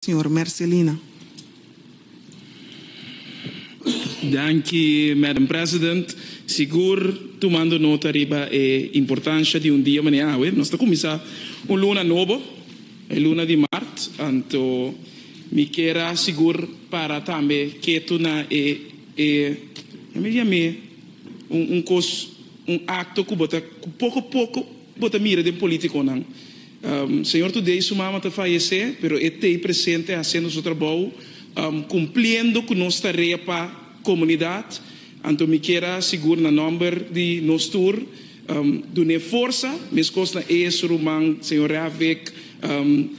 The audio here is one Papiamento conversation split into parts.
Señor Mercelina. Danki, Madam President. Sigur, tumando nota riba e importansha di un dia manera awe, nos ta kuminsá un luna nobo, e luna di mart. Anto mi kier a sigur para tambe ketu na e e nan mi yam'é un un kos, un akto ku bo ta ku poko poko bo ta mira den polítikonan. Señor Today su mama ta fayesé pero e t'ei presente hasiendo su trabou cumpliendo cu nos tarea pa comunidad anto mi kier a sigur na nomber di nos tur dun'e forsa mescos na Ace, Ruman, Señor Rehavec,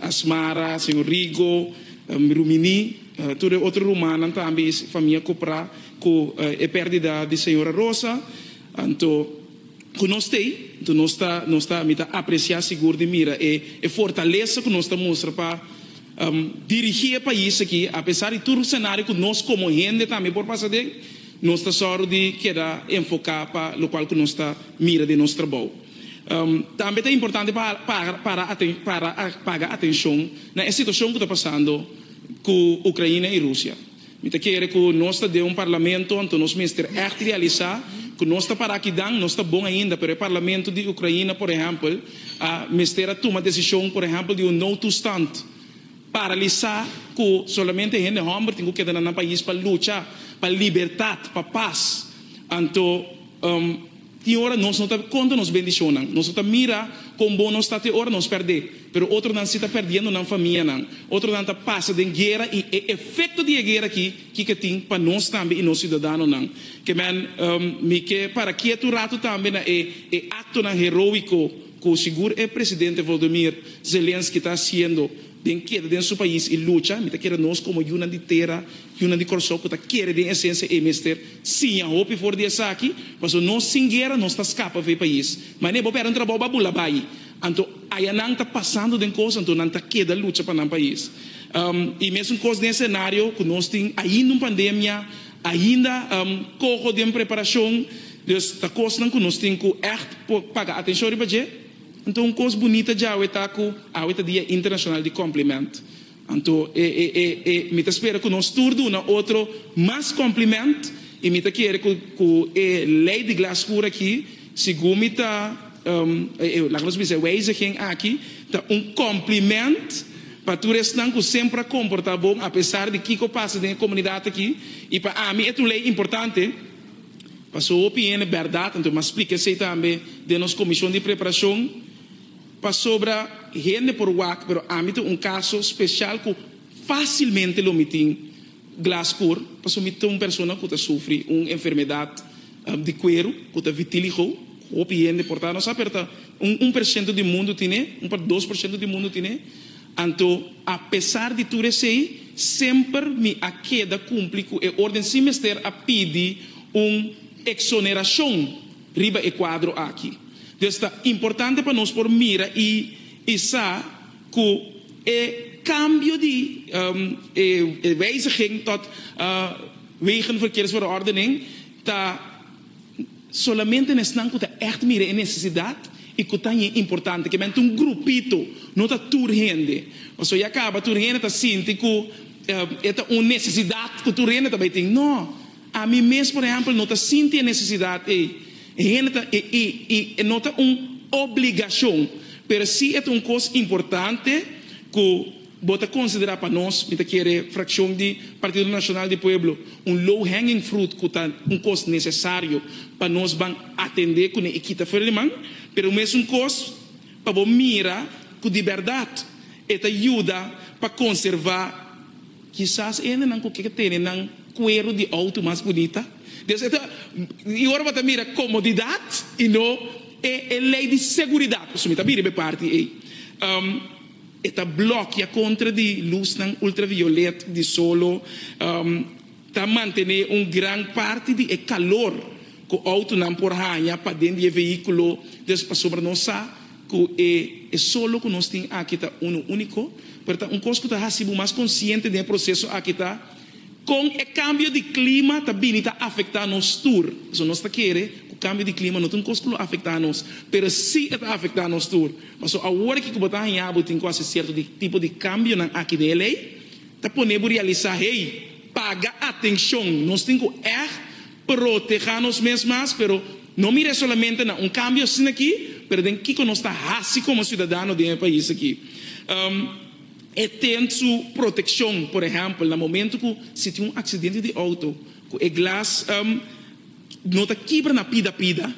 Asmara, Señor Rigo, Rumini tur e otro rumannan tambe y familia Copra cu e perdida di Señora Rosa anto. ku nos ta ei, nto nos ta nos ta mi ta apresiá sigur di mira e e fortalesa ku nos ta mustra pa dirigí e pais aki apesar di tur senario ku nos komo hende tambe por pasa den, nos ta sòru di keda enfoká pa lokual ku nos ta mira den nos trabou. Tambe ta importante pa para para para paga atenshon na e situashon ku ta pasando ku Ukraina i Rusia. Mi ta kere ku nos ta den un parlamento, anto nos mester ègt realisá ku nos ta pará kidan nos ta bon ainda, pero e parlamento di Ukraina, por ehèmpel, a mester a tuma desishon, por ehèmpel, di un noodtoestand paralisá ku solamente hende hòmber tin ku keda na nan pais pa lucha pa libertat, pa pas. Anto. Tin ora nos no ta konta nos bendishonnan. Nos no ta mira kon bon nos ta te ora nos pèrdè. Pero otronan si ta perdiendo nan famianan. Otronan ta pasa den guera i e efekto di e guera aki kiko e tin pa nos tambe i nos siudadanonan. Kman, mi ke para kietu un ratu tambe na e e aktonan heroiko ku sigur e presidente Volodymyr Zelensky ta hasiendo den keda den su pais i lucha. Mi ta kere nos komo yunan di tera. Yunan di Kòrsou ku ta kere den esensia e mester siña hopi for di esaki, paso nos sin guera nos ta skapa for e pais. Manera bo pèrdè un trabou bo a bula bai. Anto aya nan ta pasando den kos anto nan ta keda lucha pa nan pais. I mesun kos den esenario ku nos tin ainda un pandemia, ainda koho den preparashon. Dus ta kosnan ku nos tin ku ègt por paga atenshon riba dje. Anto un kos bunita djawe ta ku awe ta Dia Internashonal di Kòmpliment. Anto e e e e mi ta spera ku nos tur duna otro mas kòmplimènt i mi ta kere ku ku e lei di glas skur aki, segun mi ta e e laga nos bisa e weiziging aki ta un kòmplimènt pa tur esnan ku semper a komportá bon apesar di kiko pasa den e komunidat aki i pa ami et un lei importante paso hopi hende bèrdat anto mi a splika esei tambe den nos komishon di preparashon. Pasobra hende por wak, pero ami ta un kaso spesial ku fasilmente lo mi tin glas kur, pasobra mi ta un persona ku ta sufri un enfermedat di kueru ku ta vitiligo, ku hopi hende por ta, no sa, pero ta un un pershento di mundu tin e, un pa dos pershento di mundu tin e. Anto apesar di tur esei, semper mi a keda kumpli ku e orden sin mester a pidi un eksonerashon. Riba e kuadro aki. Des ta importante pa nos por mira i i sa ku e kambio di e wijziging tot wegen verkeers verordening ta solamente na esnan ku ta ègt mira e nesesidat i ku ta ña importante. Ke mente un grupito, no ta tur hende. Pasobra ya kaba tur hende ta sinti ku e ta un nesesidat ku tur hende ta bai tin. No. Ami mes, por ehèmpel, no ta sinti e nesesidat ei. E hende ta i, i, i e no ta un obligashon, pero si e ta un kos importante ku bo ta konsiderá pa nos, mi ta kere frakshon di Partido Nacional di Pueblo, un low hanging fruit ku ta un kos nesesario pa nos ban atendé kuné i kita fuera di man, pero mes un kos pa bo mira ku di bèrdat e ta yuda pa konservá. Kisas hendenan ku ke tene nan kueru di outo mas bunita, dios e ta i ora bo ta mira komodidat i no e e lei di seguridat, pasobra mi ta bira be parti ei, e ta blokia kontra di lusnan ultraviolet di solo. Ta mantené un gran parti di e kalor ku outonan por haña paden di e vehíkulo dus pasobra nos sa ku e e solo ku nos tin aki ta uno úniko. Pero ta un kos ku ta hasi bo mas konsiente den e proseso aki ta kon e kambio di klima ta bini ta afektá nos tur. Pasobra nos ta kere ku kambio di klima no ta un kos ku lo afektá nos, pero sí e ta afektá nos tur. Pasobra awor aki ku bo ta haña bo tin ku hasi sierto di tipo di kambionan aki den e lei. Ta pone bo realisá, Hey, paga atenshon! Nos tin ku èg protegá nos mes mas, pero no mir'é solamente na un kambio asin'akí, pero den kiko nos ta hasi komo siudadano den e pais akí. E ten su protekshon, por ehèmpel, na momentu ku si tin un aksidente di outo, ku e glas no ta kibra na pida pida,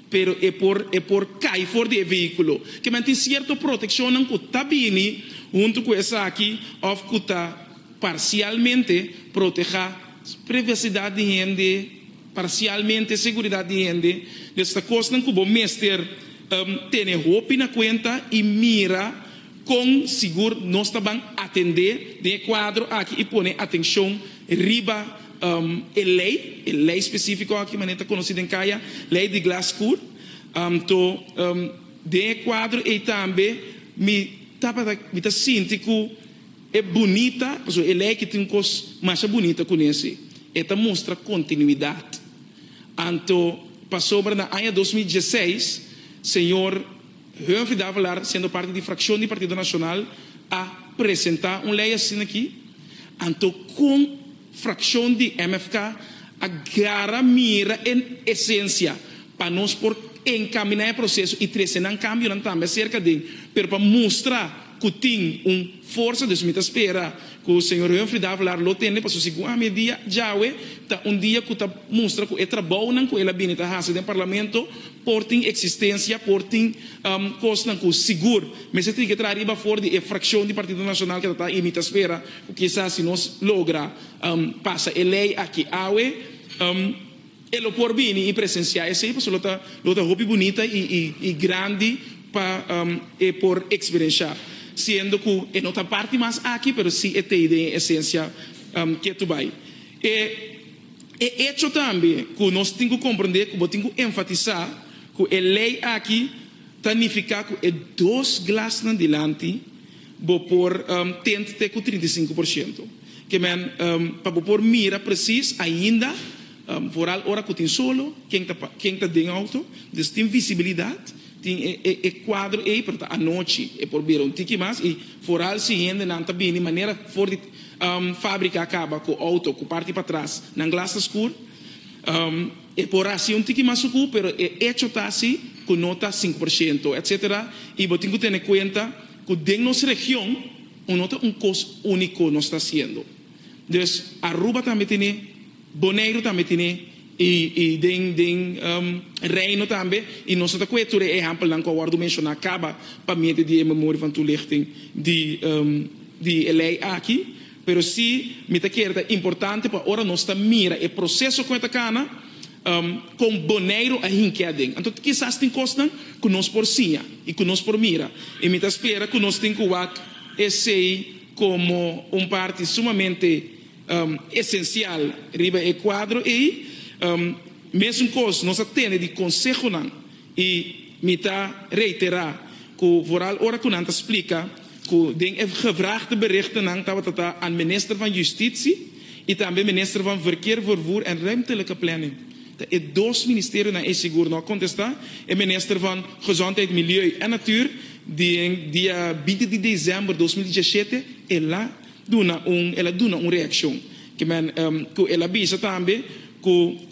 pero e por e por kai for di e vehiculo. Kiman tin cierto proteccionnan cu ta bini hunto cu esaki of cu ta parcialmente proteha privacidad di hende, parcialmente seguridad di hende. Des ta cosnan cu bo mester tene hopi na cuenta y mira. Kon sigur nos ta ban atendé den e kuadro aki i pone atenshon riba e lei, e lei spesífiko aki manera ta konosí den kaya, Lei di Glass-Cour. Anto, den e kuadro ei tambe mi tabata, mi ta sinti ku e bunita, pasobra e lei aki tin un kos masha bunita ku nese, e ta mustra kontinuidat. Anto, pasobra na aña dos mil dieseis, señor. Humphrey de Avelar, siendo parti di fraccion di Partido Nacional, a presenta un ley asina aki, anto con fraccion di MFK a gara mira e esencia pa nos por encamina e proceso y trece nan cambionan tambe acerca den, pero pa mustra. ku tin un forsa, dus mi ta spera ku señor Humphrey Davelaar lo tende pasobra si guam e dia djawe ta un dia ku ta mustra ku e trabounan ku el a bini ta hasi den Parlamento por tin eksistensia, por tin kosnan ku sigur mester tin ke traha riba for di e frakshon di Partido Nashonal ke ta ta. I mi ta spera ku kisa si nos logra pasa e lei aki awe. E lo por bini i presensiá esei pasobra lo ta lo ta hopi bunita i grandi pa e por eksperensiá, siendo ku e no ta parti mas aki pero si e tei den e esensia ke tu bai. E e echo tambe ku nos tin ku komprendé ku bo tin ku enfatisá ku e lei aki Ta nifiká ku e dos glasnan dilanti bo por tint te ku trinta i sinku por siento. Ke men pa bo por mira presis ainda, vooral ora ku tin solo, ken ta ken ta den outo, dus tin visibilidat, tin e kuadro ei pero ta anochi e por bira un tiki mas i vooral si hendenan ta bini manera for di fábrika a kaba ku outo ku parti patras nan glas ta skur. E por hasi un tiki mas suku, pero e echo ta si ku no ta sinku por shento, etc. I bo tin ku tene kuenta ku den nos region un no ta un kos úniko nos ta hasiendo. Dus Aruba tambe tene, Boneiru tambe tene i i den den Reino tambe i nos no ta kue tur e ehèmpelnan ku a wòrdu menshoná kaba pa miente di e memoria van toelichting di di e lei aki. Pero si mi ta kere ta importante pa ora nos ta mira e proceso cu e ta cana, con Boneiru a hink'e aden. Anto kisas tin cosnan cu nos por siña y cu nos por mira y mi ta spera cu nos tin cu wak esey como un parti sumamente esencial riba e cuadro ey. Mesun cos nos a tene di consehonan. I mi ta reitera ku vooral ora ku nan ta splika ku den e gebrachte berichtennan tabata ta an Minister van Justitie i tambe Minister van Verkeer, Vervoer en Ruimtelijke Planning, ta e dos ministerionan ei sigur no a kontesta, e Minister van Gezondheid, Milieu en Natuur den dia binti di desember dos mil diesachete el a duna un el a duna un reakshon ke men ku el a bisa tambe ku.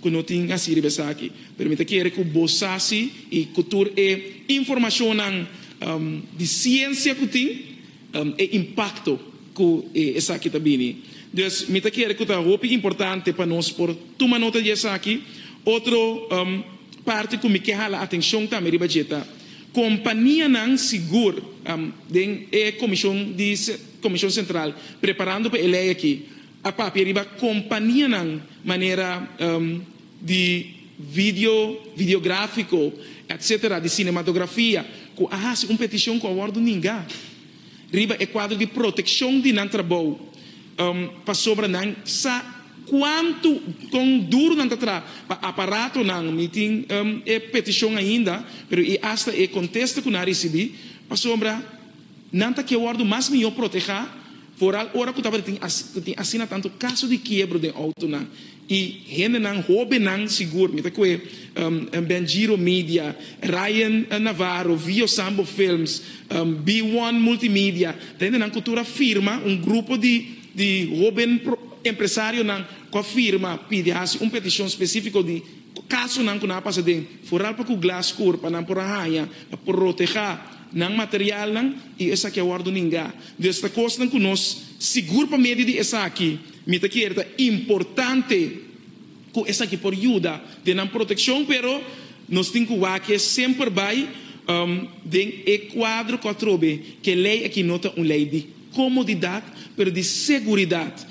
Cu no tin haci riba esaki. Pero mi ta kere cu bo sa si y cu tur e informacionnan di ciencia cu tin e impacto cu esaki ta bini. Dus mi ta kere cu ta hopi importante pa nos por tuma nota di esaki. Otro parti cu mi ke hala atencion tambe riba dje ta companianan sigur den e comision di Comision Central preparando pa e ley aki. A papia riba companianan manera di video, videografico, etc. Di cinematografia cu a haci un peticion cu a wordo ninga riba e cuadro di proteccion di nan trabou pasobra nan sa cuantu, con duro nan ta tra pa aparatonan. Mi tin e peticion ainda pero y hasta e contesta cu nan ricibi pasobra. Nan ta ke wòrdu mas mihó protegá, foral ora ku tabata tin ku tin asina tantu kaso di kiebro den outonan i hendenan hóbennan sigur. Mi ta kohe Ben Giro Media, Ryan Navarro, Vio Sambo Films, B-One Multimedia, ta hendenan ku tur a firma, un grupo di di hóben empresarionan ku a firma pidi hasi un petishon spesífiko di kasonan ku nan a pasa den foral pa ku glas skur pa nan por a haña protegá. Nan materialnan i esaki a wòrdu ningá. Dios ta kosnan ku nos sigur pa medio di esaki. Mi ta kere ta importante ku esaki por yuda den nan protekshon, pero nos tin ku waak'e semper bai den e kuadro ku a trobe ku e lei akí no ta un lei di komodidat, pero di seguridat,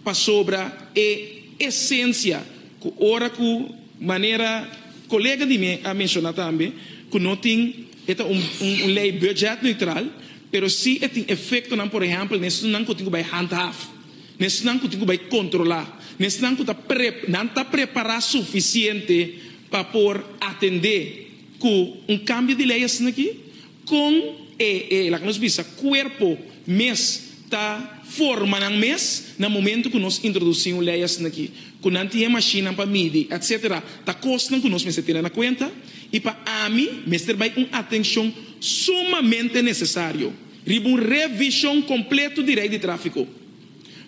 pasobra e esensia ku ora ku. Manera colega di mi a menciona tambe cu no tin e ta un un ley budget neutral pero si e tin efectonan por ehempel na esnan cu tin cu bay handhaf na esnan cu tin cu bay controla na esnan cu ta pre nan ta prepara suficiente pa por atende cu un cambio di ley asinaki Kon e e laga nos bisa kuerpo mes ta forma nan mes na momento ku nos introdusí un lei asin'akí ku nan tin e mashinnan pa midi etsetera ta kosnan ku nos mester tene na kuenta i pa ami mester bai un atenshon sumamente nesesario riba un revishon kompleto di rei di tráfiko.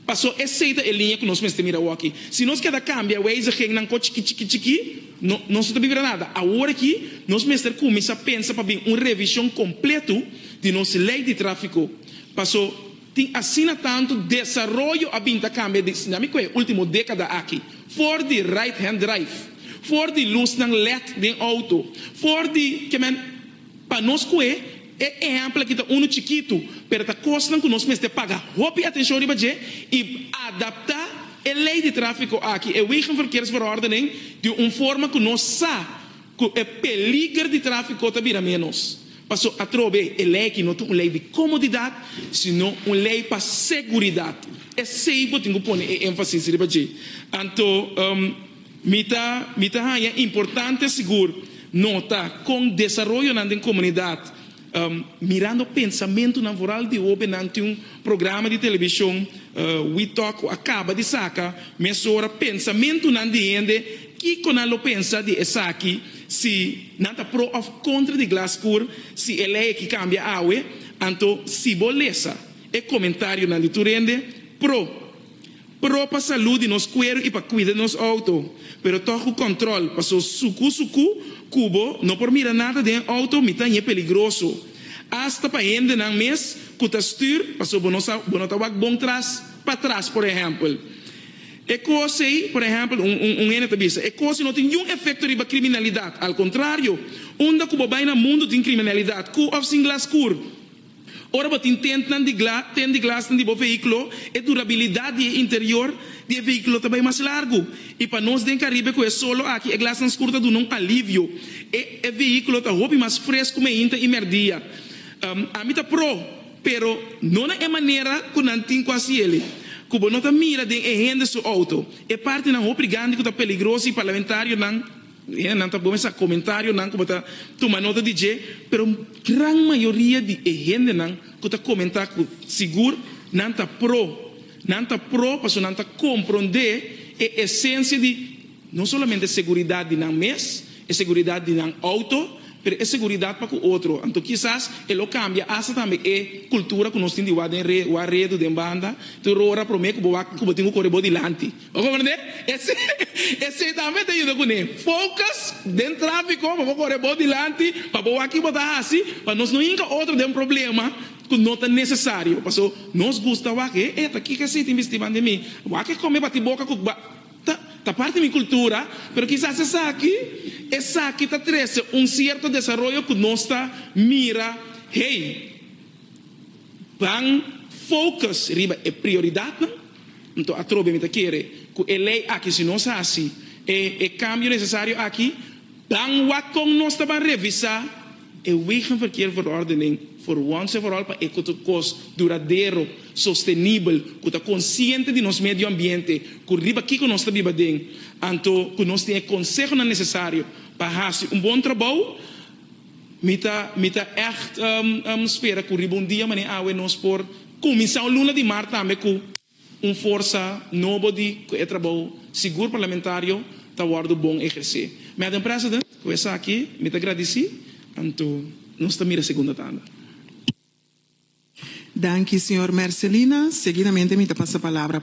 Pasó esei ta e liña ku nos mester mira awoki. Si nos keda kambia weizigingnan kò chikí chikí chikí, no nos no ta bira nada. Awor aki nos mester kuminsá pensa pa bin un revishon kompletu di nos lei di tráfiko. Pasó tin asina tantu desaroyo a bin ta kambia desde ami ku e último dékada aki, for di right-hand drive, for di lusnan led den outo, for di ke men. Pa nos kue, e ehèmpel aki ta unu chikitu, pero ta kosnan ku nos mester paga hopi atenshon riba dje i adaptá e lei di tráfiko aki, e Wegenverkeersverordening, di un forma ku nos sa ku e peliger di tráfiko ta bira ménos. Paso, atrobe, e lei aki no ta un lei di komodidat, sino un lei pa seguridat. Esei bo tin ku pone e énfasis riba dje. Anto. Mi ta mi ta haña importante sigur nota kon desaroyonan den komunidat, mirando pensamentunan foral di hobennan tin un programa di televishon, We Talk, ku a kaba di saka mesora pensamentunan di hende, kiko nan lo pensa di esaki, si nan ta pro òf kontra di glas kur, si e lei aki kambia awe, anto si bo lesa e komentarionan di tur hende, pro. Pro pa salú di nos kueru i pa kuida nos outo, pero tòg ku kòntròl, pasó sukú sukú ku bo no por mira nada den outo mi ta ñe peligroso, asta pa hendenan mes ku ta stür, pasó bo no sa bo no ta wak bon tras patras por ehèmpel. E kos ei, por ehèmpel, un un un hende ta bisa, e kos ei no tin niun efekto riba kriminalidat, al kontrario, unda ku bo bai na mundu tin kriminalidat, ku òf sin glas skur. Ora bo tin tentnan di glas, ten di glasnan di bo vehículo, e durabilidad di e interior di e vehículo ta bay mas largu. Y pa nos den Caribe cu e solo aki, e glasnan scur ta duna un alivio. E e vehículo ta hopi mas frescu meinta y merdia. Um, ami ta pro, pero no na e manera cu nan tin cu haci ele. Cu bo no ta mira den e hende su auto, e partinan hopi gandi cu ta peligroso y parlamentarionan, Nan ta bon mester sa comentarionan cu bo ta tuma nota di dje, pero gran mayoria di e hendenan cu ta comenta cu sigur nan ta pro, nan ta pro pasobra nan ta compronde e esencia di no solamente seguridad di nan mes, e seguridad di nan auto, pero e seguridad pa cu otro. Anto kisas e lo cambia hasta tambe e cultura cu nos tin di wak den wak redu, den banda, tur ora prome cu bo wak cu bo tin cu core bo dilanti. Bo komprende? Esei ta afektá e yendo kuné. Focus den tráfiko pa bo kore bo dilanti, pa bo wak ki bo ta hasi, pa nos no hinka otro den problema ku no ta nesesario. Paso nos gusta wak e eta, kiko esei tin bisti banda di mi? Wak e kome bati boka ku kba. Ta ta parti mi kultura, pero kisas esaki esaki ta trese un sierto desaroyo ku nos ta mira hei. Ban focus riba e prioridadnan. Nto atrobe mi ta kere cu e ley aki si nos haci e cambio necesario aki, ban wak con nos ta ban revisa e Wegenverkeerverordening for once en for all pa e cos duradero, sostenibel, cu ta consciente di nos medio ambiente, cu riba kico nos ta biba den, anto cu nos tin e consehonan necesario pa haci un bon trabou. Mi ta mi ta echt spera cu riba un dia manera awe nos por cuminsa un luna di mar tambe cu un forsa nobo di cu e trabou sigur parlamentario ta wordo bon eherce. Madam President, cu esaki mi ta gradici anto nos ta mira segunda tanda. Danki, Señor Mercelina. Seguidamente mi ta pasa palabra pa.